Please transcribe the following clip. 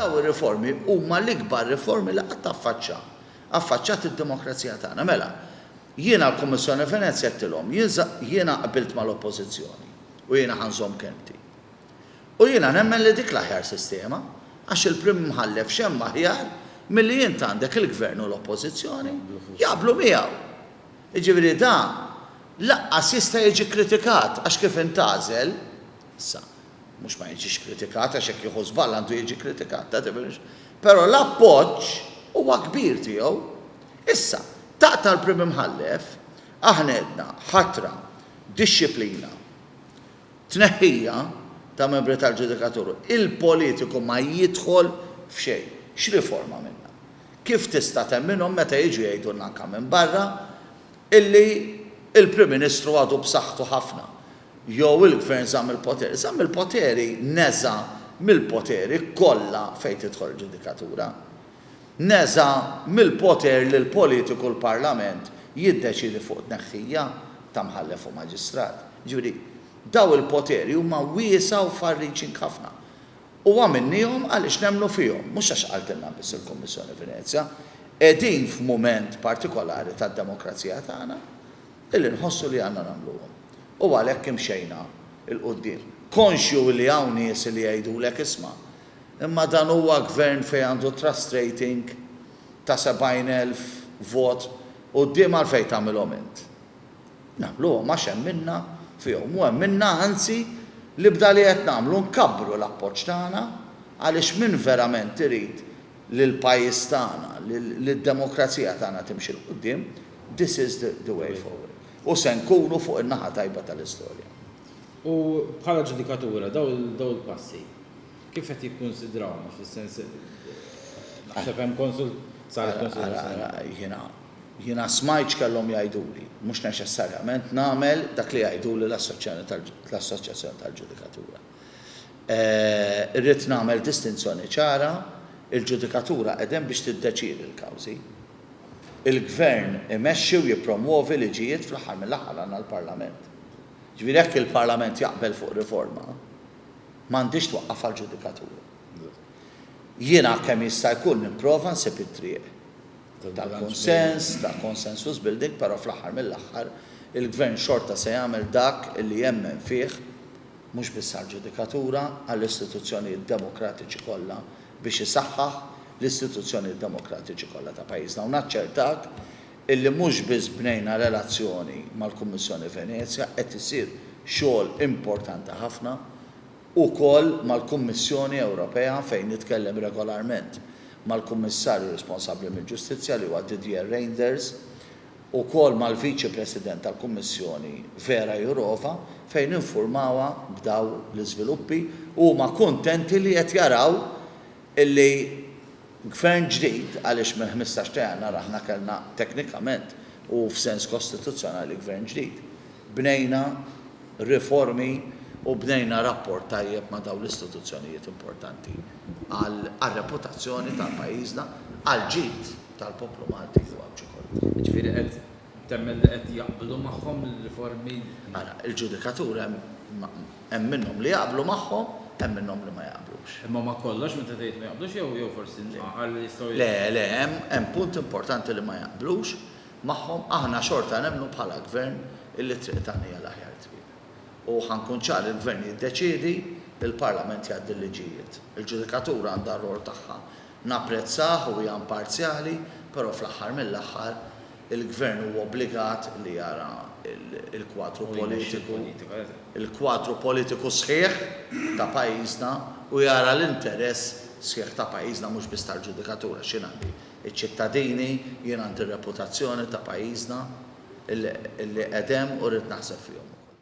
Dawn ir-riformi huma l-ikbar riformi li qatt affaċċa, affaċċat id-demokrazija tagħna. Mela, jien għall-Kummissjoni Venezja għedtilhom, jiena qbilt mal-Oppożizzjoni u jiena ħa nżomm kelmti. U jiena nemmen li dik l-aħjar sistema, għax il-Prim Imħallef x'hemm aħjar milli int għandek il-Gvern u l-Oppożizzjoni jaqblu miegħu. Jiġifieri dan lanqas jista' jiġi kkritikat għax kif intgħażel, sa, Mhux ma jiġix kritikat għax jekk jieħu żball għandu jiġi kkritikat, ta' differenza. Però l-appoġġ huwa kbir tiegħu. Issa, taqta' l-Prim Imħallef, aħna għedna ħatra, dixxiplina, tneħħija ta' membri tal-ġudikatura. Il-politiku ma jidħol f'xejn. X'riforma għamilna? Kif tista' temminhom meta jiġu jgħidulna anke minn barra, illi l-Prim Ministru għadu b'saħħtu ħafna jew il-Gvern żamm il-poteri. Żamm il-poteri neża' mill-poteri kollha fejn tidħol il-ġudikatura. Neża' mill-poter li l-politiku l-Parlament jiddeċiedi fuq tneħħija ta' Mħallef u Maġistrat. Jiġifieri, dawn il-poteri huma wiesgħa u far-reaching ħafna. U għamilniehom għaliex nemmnu fihom, mhux għax qaltilna biss il-Kummissjoni Venezja. Qegħdin f'mument partikolari tad-demokrazija tagħna illi nħossu li għandna nagħmluhom. U għalhekk imxejna 'l quddiem. Konxju illi hawn nies illi jgħidulek isma', imma dan huwa Gvern fejn għandu trust rating ta' 70,000 vot quddiem għalfejn tagħmilhom int? Nagħmluhom għax emminna fihom u emminna anzi li b'dali qed nagħmlu nkabbru l-appoġġ tagħna għaliex min verament irid li l-pajjiż tagħna, li d-demokrazija tagħna timxi 'l quddiem, this is the way forward. U se nkunu fuq in-naħa tajba tal-istorja. U bħala ġudikatura dawn il-passi Kif qed jikkunsidrawna fis-sens naħseb hemm konsult saret konsultazzjoni. Ara, ara, jiena, jiena smajt x'kellhom jgħiduli. Mhux neċessarjament nagħmel dak li jgħiduli l-Assoċjazzjoni tal-Ġudikatura. Irrid nagħmel distinzjoni ċara, il-Ġudikatura qegħda hemm biex tiddeċiedi l-kawżi. Il-Gvern imexxi u jippromwovi liġijiet fl-aħħar mill-aħħar għandna l-Parlament. Jiġifieri jekk il-Parlament jaqbel fuq riforma, M'għandhiex twaqqaf għall-ġudikatura. Jiena kemm jista' jkun nipprova nsib it-triq ta' kunsens, ta' consensus building, però fl-aħħar mill-aħħar il-Gvern xorta se jagħmel dak li jemmen fih mhux biss għall-ġudikatura, għall-istituzzjonijiet demokratiċi kollha biex isaħħaħ l-istituzzjonijiet demokratiċi kollha ta' pajjiżna u naċċertak illi mhux biss bnejna relazzjoni mal-Kummissjoni Venezja, qed isir xogħol importanti ħafna ukoll mal-Kummissjoni Ewropea fejn nitkellem regolarment mal-Kummissarju responsabbli mill-Ġustizzja li huwa Didier Reynders, ukoll mal-Viċi President tal-Kummissjoni Vera Jourova fejn infurmawha b'dawn l-iżviluppi u huma kuntenti li qed jaraw illi Gvern ġdid, għaliex mill-ħmistax ta' Jannar aħna kellna teknikament u f'sens kostituzzjonali Gvern ġdid, bnejna riformi u bnejna rapport tajjeb ma' dawn l-istituzzjonijiet importanti għar-reputazzjoni tal-pajjiżna, għall-ġid tal-poplu Malti u għall-ġid kollu. Jiġifieri qed temmen li qed jaqblu magħhom l-riformi? Ara, il-ġudikatura hemm. Hemm minnhom li jaqblu magħhom, hemm minnhom li ma jaqblux. Imma ma' kollox meta tgħid ma jaqblux jew jew forsi nqanqal li jistgħu. Le, le, hemm hemm punt importanti li ma jaqblux magħhom, aħna xorta nemmnu bħala Gvern illi t-triq tagħna hija l-aħjar triq. U ħa nkun ċar il-Gvern jiddeċiedi, il-Parlament jgħaddi l-liġijiet. Il-ġudikatura għandha r-rwol tagħha. Napprezzah u hija imparzjali, però fl-aħħar mill-aħħar Il-Gvern huwa obbligat li jara l-kwadru politiku, il-kwadru politiku sħiħ ta' pajjiżna u jara l-interess sħiħ ta' pajjiżna mhux biss tal-ġudikatur għax jien għandi ċ-ċittadini, jien għandi r-reputazzjoni ta' pajjiżna li qegħed hemm u rrid naħseb fihom ukoll.